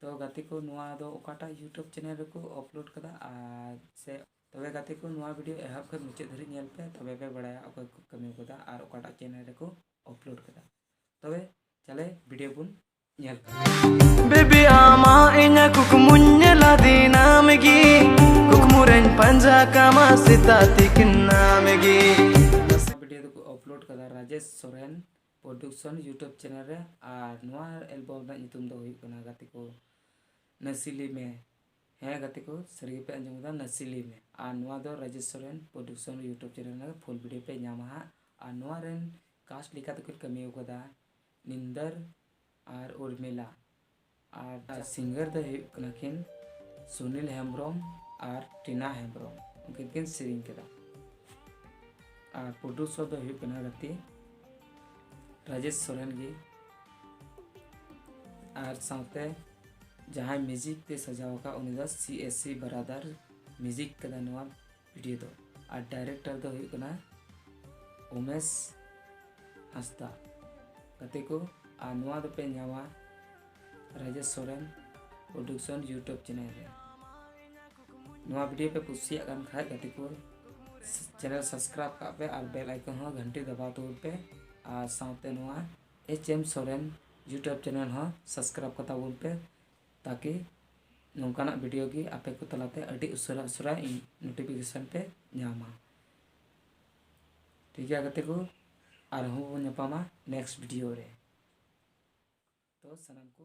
ᱛᱚ ᱜᱟᱛᱮ ᱠᱚ ᱱᱚᱣᱟ ᱫᱚ ᱚᱠᱟᱴᱟᱜ ᱤᱭᱩᱴᱩᱵᱽ ᱪᱮᱱᱮᱞ ᱨᱮᱠᱚ ᱟᱯᱞᱳᱰ ᱠᱟᱫᱟ ᱟᱨ ᱥᱮ ᱛᱚᱵᱮ ᱜᱟᱛᱮ ᱠᱚ ᱱᱚᱣᱟ ᱵᱷᱤᱰᱤᱭᱳ ᱮᱦᱚᱵ ᱠᱷᱚᱱ ᱢᱩᱪᱟᱹᱫ ᱫᱷᱟᱹᱨᱤᱡ ᱧᱮᱞ ᱯᱮ ᱛᱚᱵᱮ ᱯᱮ ᱵᱟᱲᱟᱭᱟ ᱚᱠᱚᱭ ᱠᱚ ᱠᱟᱹᱢᱤ ᱠᱟᱫᱟ ᱟᱨ ᱚᱠᱟᱴᱟᱜ ᱪᱮᱱᱮᱞ ᱨᱮᱠᱚ ᱟᱯᱞᱳᱰ ᱠᱟᱫᱟ ᱛᱚᱵᱮ ᱪᱟᱞᱮ ᱵᱷᱤᱰᱤᱭᱳ ᱵᱚᱱ ᱧᱮᱞ ᱵᱮᱵᱤ ᱟᱢᱟ ᱤᱧᱟ ᱠᱩᱠᱢᱩᱧ ᱧᱮᱞᱟ ᱫᱤᱱᱟᱢ ᱜᱮ ᱠᱩᱠᱢᱩ ᱨᱮᱧ ᱯᱟᱸᱡᱟ ᱠᱟᱢᱟ ᱥᱮᱛᱟ ᱛᱤᱠᱤᱱ ᱱᱟᱢ ᱜᱮ ᱵᱷᱤᱰᱤᱭᱳ ᱫᱚᱠᱚ ᱟᱯᱞᱳᱰ ᱠᱟᱫᱟ Rajesh Soren production YouTube channel ᱨᱮ ᱟᱨ ᱱᱚᱣᱟ ᱮᱞᱵᱚᱢ ᱨᱮᱱᱟᱜ ᱧᱩᱛᱩᱢ ᱫᱚ ᱦᱩᱭᱩᱜ ᱠᱟᱱᱟ ᱜᱟᱛᱮ ᱠᱚ ᱱᱟᱥᱤᱞᱤ ᱢᱮ ᱦᱮᱸ ᱜᱟᱛᱮ ᱠᱚ ᱥᱟᱹᱨᱤ ᱜᱮᱯᱮ ᱟᱸᱡᱚᱢ ᱠᱮᱫᱟ ᱱᱟᱥᱤᱞᱤ ᱢᱮ ᱟᱨ ᱱᱚᱣᱟ ᱫᱚ Rajesh Soren production YouTube channel ᱨᱮ ᱯᱷᱩᱞ ᱵᱷᱤᱰᱭᱳ ᱯᱮ ᱧᱟᱢᱟ ᱦᱟᱸᱜ ᱟᱨ ᱱᱚᱣᱟ ᱨᱮᱱ ᱠᱟᱥᱴ ᱞᱮᱠᱟ ᱛᱮᱠᱚ ᱠᱟᱹᱢᱤ ᱟᱠᱟᱫᱟ ᱱᱤᱱᱫᱟᱨ ᱟᱨ ᱩᱨᱢᱤᱞᱟ ᱟᱨ ᱥᱤᱝᱜᱟᱨ ᱫᱚ ᱦᱩᱭᱩᱜ ᱠᱟᱱᱟ ᱠᱤᱱ ᱥᱩᱱᱤᱞ ᱦᱮᱢᱵᱨᱚᱢ ᱟᱨ ᱴᱤᱱᱟ ᱦᱮᱢᱵᱨᱚᱢ ᱩᱱᱠᱤᱱ ᱠᱤᱱ ᱥᱮᱨᱮᱧ ᱠᱮᱫᱟ ᱟᱨ ᱯᱨᱚᱰᱩᱥᱚᱨ ᱫᱚ ᱦᱩᱭᱩᱜ ᱠᱟᱱᱟ ᱜᱟᱛᱮ ᱨᱟᱡᱮᱥ ᱥᱚᱨᱮᱱ ᱜᱮ ᱟᱨ ᱥᱟᱶᱛᱮ ᱡᱟᱦᱟᱸᱭ ᱢᱤᱭᱩᱡᱤᱠ ᱛᱮ ᱥᱟᱡᱟᱣ ᱟᱠᱟᱫ ᱩᱱᱤ ᱫᱚ C S C brother music ᱠᱟᱫᱟ ᱱᱚᱣᱟ ᱵᱷᱤᱰᱤᱭᱳ ᱫᱚ ᱟᱨ ᱰᱟᱭᱨᱮᱠᱴᱟᱨ ᱫᱚ ᱦᱩᱭᱩᱜ ᱠᱟᱱᱟ ᱩᱢᱮᱥ ᱦᱟᱸᱥᱫᱟ ᱜᱟᱛᱮ ᱠᱚ ᱟᱨ ᱱᱚᱣᱟ ᱫᱚᱯᱮ ᱧᱟᱢᱟ Rajesh Soren production YouTube channel ᱨᱮ ᱱᱚᱣᱟ ᱵᱷᱤᱰᱤᱭᱳ ᱯᱮ ᱠᱩᱥᱤᱭᱟᱜ ᱠᱟᱱ ᱠᱷᱟᱡ ᱜᱟᱛᱮ ᱠᱚ ᱪᱮᱱᱮᱞ ᱥᱟᱵᱥᱠᱨᱟᱭᱤᱵ ᱠᱟᱜ ᱯᱮ ᱟᱨ ᱵᱮᱞ ᱟᱭᱠᱚᱱ ᱦᱚᱸ ᱜᱷᱟᱱᱴᱤ ᱫᱟᱵᱟᱣ ᱛᱟᱵᱚᱱ ᱯᱮ ᱟᱨ ᱥᱟᱶᱛᱮ ᱱᱚᱣᱟ H M Soren YouTube channel ᱦᱚᱸ ᱥᱟᱵᱥᱠᱨᱟᱭᱤᱵ ᱠᱟᱛᱟ ᱵᱚᱱ ᱯᱮ ᱛᱟᱠᱤ ᱱᱚᱝᱠᱟᱱᱟᱜ ᱵᱷᱤᱰᱤᱭᱳ ᱜᱮ ᱟᱯᱮ ᱠᱚ ᱛᱟᱞᱟᱛᱮ ᱟᱹᱰᱤ ᱩᱥᱟᱹᱨᱟ ᱩᱥᱟᱹᱨᱟ ᱤᱧ ᱱᱳᱴᱤᱯᱷᱤᱠᱮᱥᱚᱱ ᱯᱮ ᱧᱟᱢᱟ ᱴᱷᱤᱠ ᱜᱮᱭᱟ ᱜᱟᱛᱮ ᱠᱚ ᱟᱨᱦᱚᱸ ᱵᱚᱱ ᱧᱟᱯᱟᱢᱟ ᱱᱮᱠᱥᱴ ᱵᱷᱤᱰᱤᱭᱳ ᱨᱮ ᱛᱚ ᱥᱟᱱᱟᱢ ᱠᱚ